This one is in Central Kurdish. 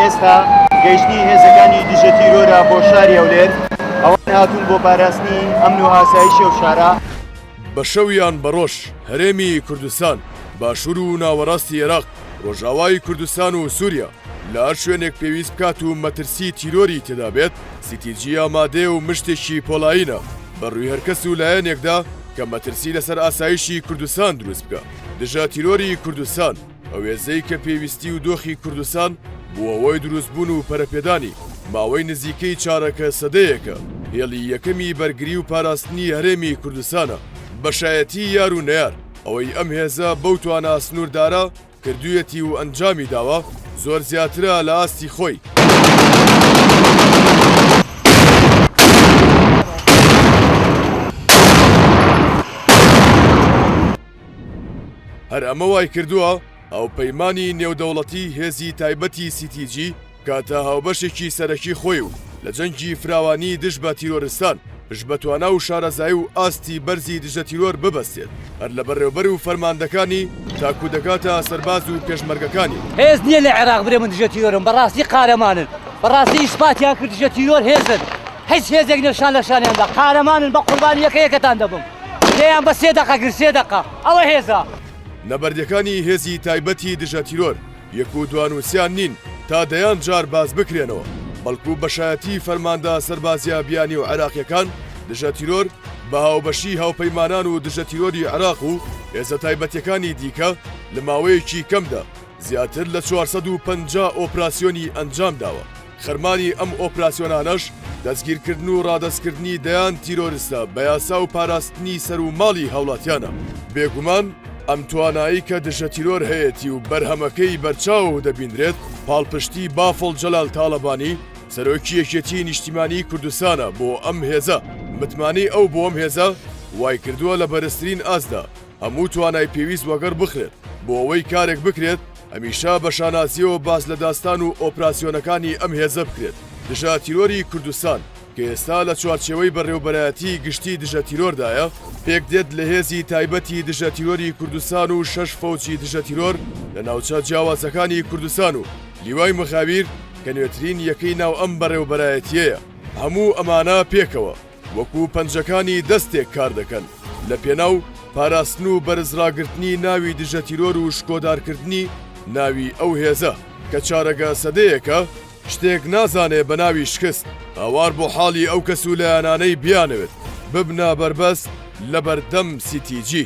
ئێستا گەیشتنی هێزەکانی دژە تیرۆرە بۆ شاری هەولێر ئەوان هاتوون بۆ پاراستنی ئەمن و ئاسایشی و شارە بە شەویان بەڕۆژ هەرێمی کوردستان باشوور و ناوەڕاستی عێراق ڕۆژاوای کوردستان و سووریا لە هەر شوێنێک پێویست بکات و مەترسی تیرۆری تێدا بێت، سی تی جی ئامادەیە و مشتێکی پۆڵایینە بە رووی هەر کەس و لایەنێکدا کە مەترسی لەسەر ئاسایشی کوردستان دروست بکا. دژە تیرۆری کوردستان، ئەو هێزەی کە پێویستی و دۆخی کوردستان بووە هۆی دروست بوون و پەرەپێدانی، ماوەی نزیکەی چارەکە سەدەیەکە هێڵی یەکەمی بەرگری و پاراستنی هەرێمی کوردستانە. بەشایەتی یار و نەیار ئەوەی ئەم هێزە بەو توانا سنووردارە، کردویەتی و ئەنجامی داوە زۆر زیاترە لە ئاستی خۆی. هەر ئەمە وای کردوە هاوپەیمانی نێودەوڵەتی هێزی تایبەتی سی تی جی، کاتە هاوبەشێکی سەرەکی خۆی و لە جەنگی فراوانی دژ بە تیرۆرستان پشت بە توانا و شارەزایی و ئاستی بەرزی دژە تیرۆر ببەستێت هەر لە بەڕێوبەر و فەرماندەکانی تاکو دەگاتە سەرباز و پێشمەرگەکانی. هێز نیە لە عێراق برێ من دژە تیرۆرم بەڕاستی قارەمانن بەڕاستی ئیسپاتیان کرد دژە تیرۆر هێزن هیچ هێزێک نیە شان لە شانیاندا قارەمانن بە قوربانی یەکە یەکەتان دەبم لێیان بە سێ دەقە گرت سێ دەقە ئەوە هێزە. نەبەردەکانی هێزی تایبەتی دژە تیرۆر. یەک و دوانووسیان نین تا دەیان جار باس بکرێنەوە، بەڵکوو بەشایەتیی فەرماندە سەربازییە بیانی و عێراقییەکان دژە تیرۆر بە هاوبەشیی هاوپەیمانان و دژە تیرۆری عێراق و هێزە تایبەتییەکانی دیکە لە ماوەیەکی کەمدا زیاتر لە چوار سەد و پەنجا ئۆپراسیۆنی ئەنجام داوە. خەرمانی ئەم ئۆپراسیۆنانەش دەستگیرکردن و ڕادەستکردنی دەیان تیرۆرستە بە یاسا و پاراستنی سەر و ماڵی هاوڵاتیانە. بێگومان ئەم توانایەی کە دژەتیرۆر هەیەتی و بەرهەمەکەی بەرچاو دەبینرێت، پاڵپشتی بافڵ جەلال تاڵەبانی، سەرۆکی یەکێتیی نیشتیمانیی کوردستانە بۆ ئەم هێزە. متمانەی ئەو بۆ ئەم هێزە وایکردووە لە بەرزترین ئاستدا هەموو توانای پێویست وەگەڕ بخرێت بۆ ئەوەی کارێک بکرێت هەمیشە بە شانازییەوە باس لە داستان و ئۆپراسیۆنەکانی ئەم هێزە بکرێت دژە تیرۆری کوردستان، کە ئێستا لە چوارچێوەی بەڕێوبەرایەتیی گشتیی دژە تیرۆردایە، پێکدێت لە هێزی تایبەتی دژە تیرۆری کوردستان و شەش فەوجی دژە تیرۆر لە ناوچە جیاوازەکانی کوردستان و لیوای مخابیر کە نوێترین یەکەی ناو ئەم بەڕێوبەرایەتییەیە. هەموو ئەمانە پێکەوە، وەکو پەنجەکانی دەستێک کاردەکەن لە پێناو پاراستن و بەرزڕاگرتنی ناوی دژەتیرۆر و شکۆدارکردنی ناوی ئەو هێزە کە چارەگە سەدەیەکە شتێک نازانێ بە ناوی شکست هاوار بۆ حاڵی ئەو کەس و لایەنانەی بیانەوێت ببنە بەربەست لە بەردەم سیتیجی.